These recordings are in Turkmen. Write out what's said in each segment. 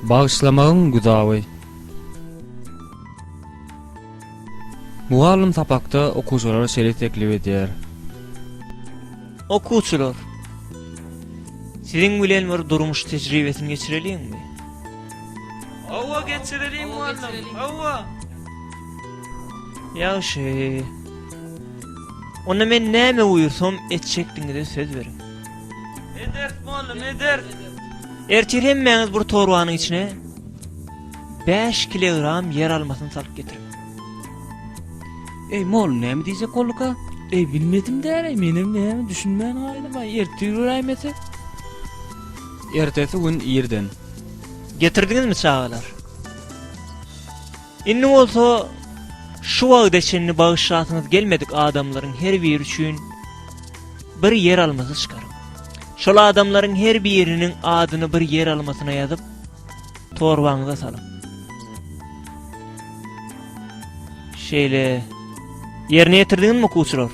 Bagyşlamagyň güzawy. Mugallym sapakda okuwçylara şeýle teklip edýär. Okuwçylar, siziň bilen bir durmuş tejribesini geçireliňmi? Hawa, geçireliň mugallym. Hawa. Ýagşy. Onda men näme buýursam etjekdigiňize söz beriň. Medert bolly, medert. Ertir hemmäňiz bir torbanyň içine 5 kilogram ýer almasyny salyp getiriň. Ey mol näme diýjek bolduka? Ey bilmedim däre menem näme düşünmän galýan baý ertir göräýmese. Ertesi gün irden. Getirdiňizmi çagalar? Indi bolsa şu wagta çenli bagyşlasyňyz gelmedik adamlaryň her biri üçin bir ýer almasy çykaryň. Şol adamlaryň her biriniň adyny bir ýer almasyna ýazyp, torbaňyza salyň. Şeýle ýerine ýetirdiňizmi okuwçylar?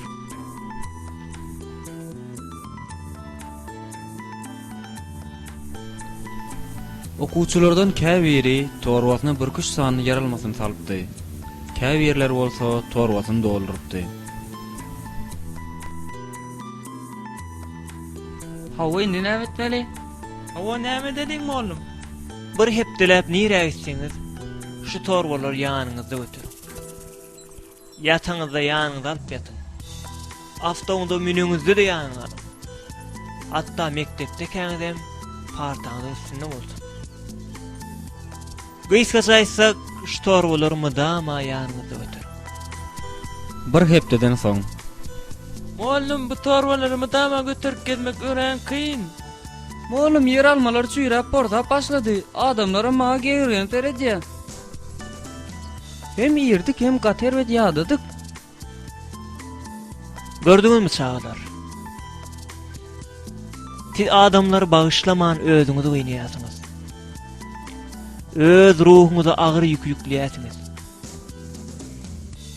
Okuwçylardan käbiri torbasyna bürküş sanyny ýarylmasyny salypdy. Käbirleri bolsa torbasyny doldurypdy. Hawa, indi näme etmeli? Hawa, näme edeliň, mollum? Bir hepdeläp nirä gitseňiz, şu torbalary ýanyňyzda göteriň. Ýataňyzda ýanyňyza alyp ýatyň. Awtoňyza müneňizde-de ýanyňa alyň. Hatda mekdepdekäňizem partaňyzyň üstünde bolsun. Gysgaça aýtsak, şu torbalary mydama ýanyňyzda göteriň. Bir hepdeden soň. Mugallym, bu torbalary mydama göterip gezmek örän kyn. Mugallym, ýeralmalar çüýräp, porsap başlady. Adamlaram maňa gegergenip seredýär. Hem irdik hem gaty erbet ýadadyk. Gördüňizmi çagalar? Siz adamlary bagyşlaman özüňizi gynýarsyňyz. Öz ruhuňyza agyr ýük ýükleýärsiňiz.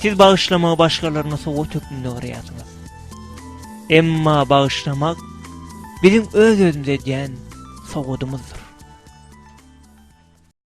Siz bagyşlamagy başgalaryna sowat hökmünde görýärsiňiz. Emma bagyşlamak biziň öz-özümize edýän sowadymyzdyr.